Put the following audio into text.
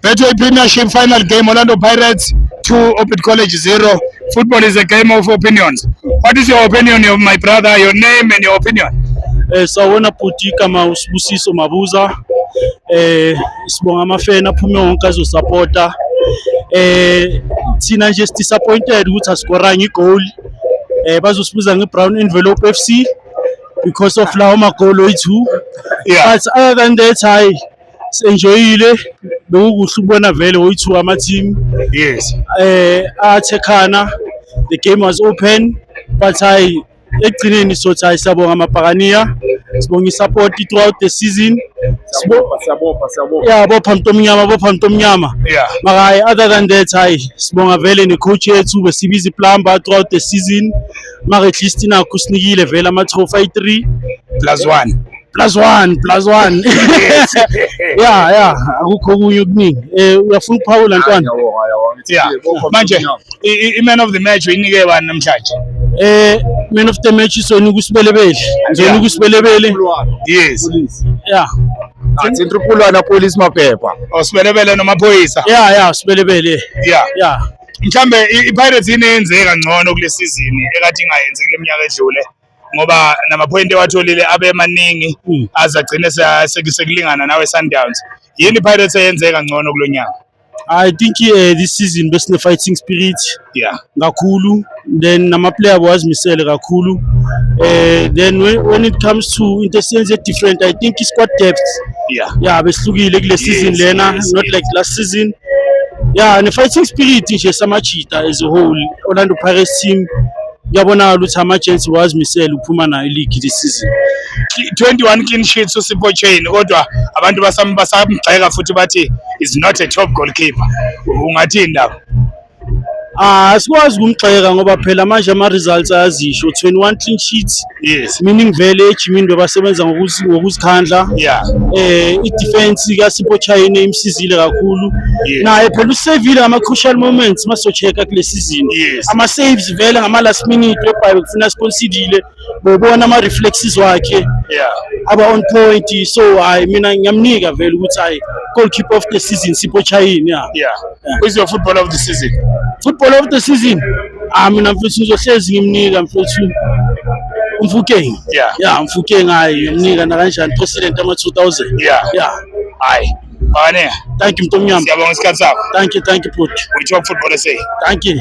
Betway Premiership final game Orlando Pirates 2 Orbit College 0 football is a game of opinions what is your opinion of my brother your name and your opinion eh sawona bhuti kama usibusiso mabuza eh sibonga amafena aphume wonke azosupporta eh thina nje si disappointed ukuthi asikoranga igoal eh bazosibuza ngebrown envelope FC because of lawo magolo ethu yeah. but other than that hayi senjoyile bekukuhle ukubona vele woyi-two ama-team yes eh athekhana the game was open but hayi ekugcineni sothi hayi siyabonga amabhakaniya sibonga i-support throughout the season Sibo- sabopha sabopha ya bopha mntu omnyama bopha mntu omnyama yeah maka hayi other than that hayi sibonga vele ne-coach yethu besibiza iplumber throughout the season maka at least nakho sinikile vele ama-trophy ayi-three plus one plus one plus one ya ya akukho okunye okuningi eh, uyafuna ukuphawula ntwana yeah. manje i-man of the match uyinike bani namhlanje eh man of the match isona ukusibelebele ngizona ukusibelebele yes yeah athi intrupulwana police maphepha osibelebele oh, nomaphoyisa yeah yeah sibelebele yeah yeah mhlambe i-pirates ineyenzeka ngcono kule sizini ekade ingayenzi kule minyaka edlule ngoba namaphoyinti ewatholile abe maningi hmm. aze agcine sekulingana nawe Sundowns yini Pirates eyenzeka ngcono kulo nyaka I think uh, this season best besine fighting spirit yeah kakhulu then nama player wazimisele kakhulu uh, then when, when it comes to into sense different I think it's quite depth yeah yeah behlukile kule season yes, lena yes, not yes. like last season yeah ne fighting spirit nje samajita as a whole Orlando Pirates team kuyabonakala ukuthi ama-agency wazimisele ukuphuma nayo iligi this season 21 clean sheets usipho chain kodwa abantu basamgxeka futhi bathi is not a top goalkeeper ungathini lapho Ah sikwazi ukumgxeka ngoba phela manje ama results ayazisho 21 clean sheets yes meaning vele ejimini bebasebenza ngokuzi- ngokuzikhandla yeah eh idefense kaSipho Chayine imsizile kakhulu Yes. naye phela usevile ngama crucial moments masocheka kule season Yes. ama saves vele ngama last minute webhayo kufuna sponsidile bobona ama reflexes wakhe yeah aba on point so hayi mina ngiyamnika vele ukuthi hayi goalkeeper of the season Sipho Chayine yeah yeah who's your footballer of the season football of the season Ah mina mfethu ngizohlezi ngimnika mfethu umfukeng. Yeah. Yeah, umfukeng hayi ngimnika nakanjani president ama 2000. Yeah. Yeah. Hayi. Bane. Thank you mtomnyama. Siyabonga isikhathi sakho. Thank you, thank you bhuti. Uyithiwa football SA. Thank you.